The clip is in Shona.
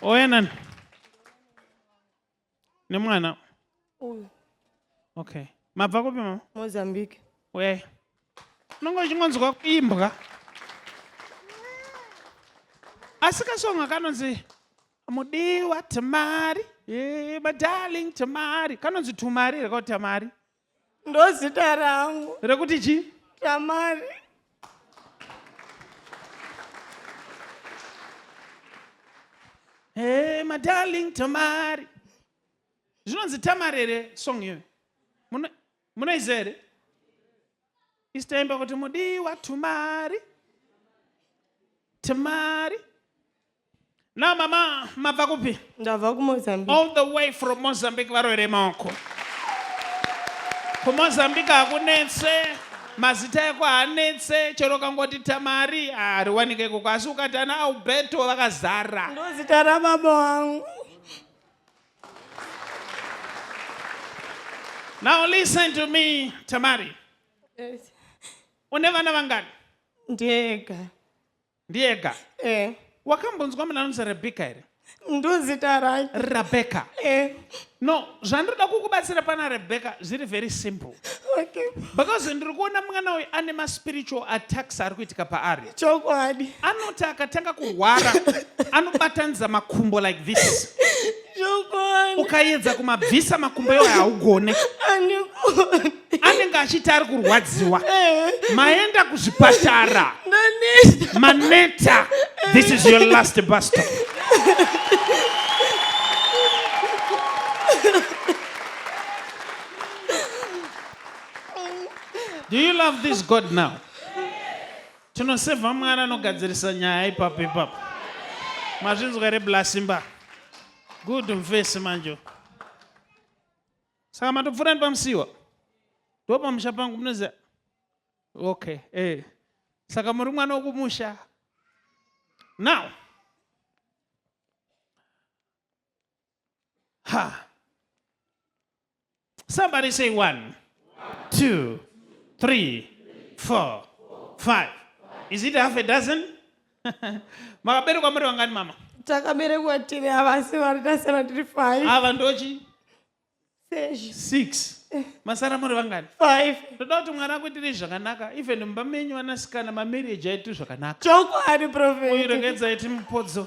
oyanani nemwana uyu okay mabva kupi mama mozambique we unonge uchingonzwa kuimbwa asi kasonga kanonzi mudiwa tamari eh, madarling tamari kanonzi tumari here kau tamari ndozita rangu rekuti chi tamari hey madarling tamari zvinonzi tamari here song iyo munoiziva here isitaimba kuti mudiwa tumari tamari Now mama mabva kupi? Ndabva kuMozambique. All the way from Mozambique varwere maoko. KuMozambique hakunetse, mazita eko hanetse, chero kangoti Tamari hariwanike ikoko asi ukati ana Alberto vakazara. Ndozita rababa wangu. Now listen to me Tamari. Yes. Une vana vangani? Ndega. Ndiega. Eh. Wakambonzwa munhu anonzi Rebecca here? Ndozita rake. Rebecca. Eh. No, zvandoda kukubatsira pana Rebecca zviri very simple. Okay. Because ndiri kuona mwana uyu ane ma spiritual attacks ari kuitika paari. Chokwadi. Anoti akatanga kurwara anobatanidza makumbo like this. Chokwadi. Ukaedza kumabvisa makumbo iwayo haugone. Andigone. anenge achiti ari kurwadziwa maenda kuzvipatara maneta this is your last bus stop do you love this god now tinosevha mwana anogadzirisa nyaya ipapo ipapo mazvinzwa reblasimba good mfesi manjo saka matopfuura nepamusiwa ndopamusha pangu munoziva okay eh. saka muri mwana wokumusha now ha somebody say one two three four five is it half a dozen makaberekwa muri vangani mama takaberekwa tiri ava asi vari tasara tiri five ava ndochi sezvi six masara muri vangani five ndoda kuti mwana akuitire zvakanaka even mumba menyu vanasikana mamarriage aitiri zvakanaka chokwadi profeti uyiregedza iti mupodzo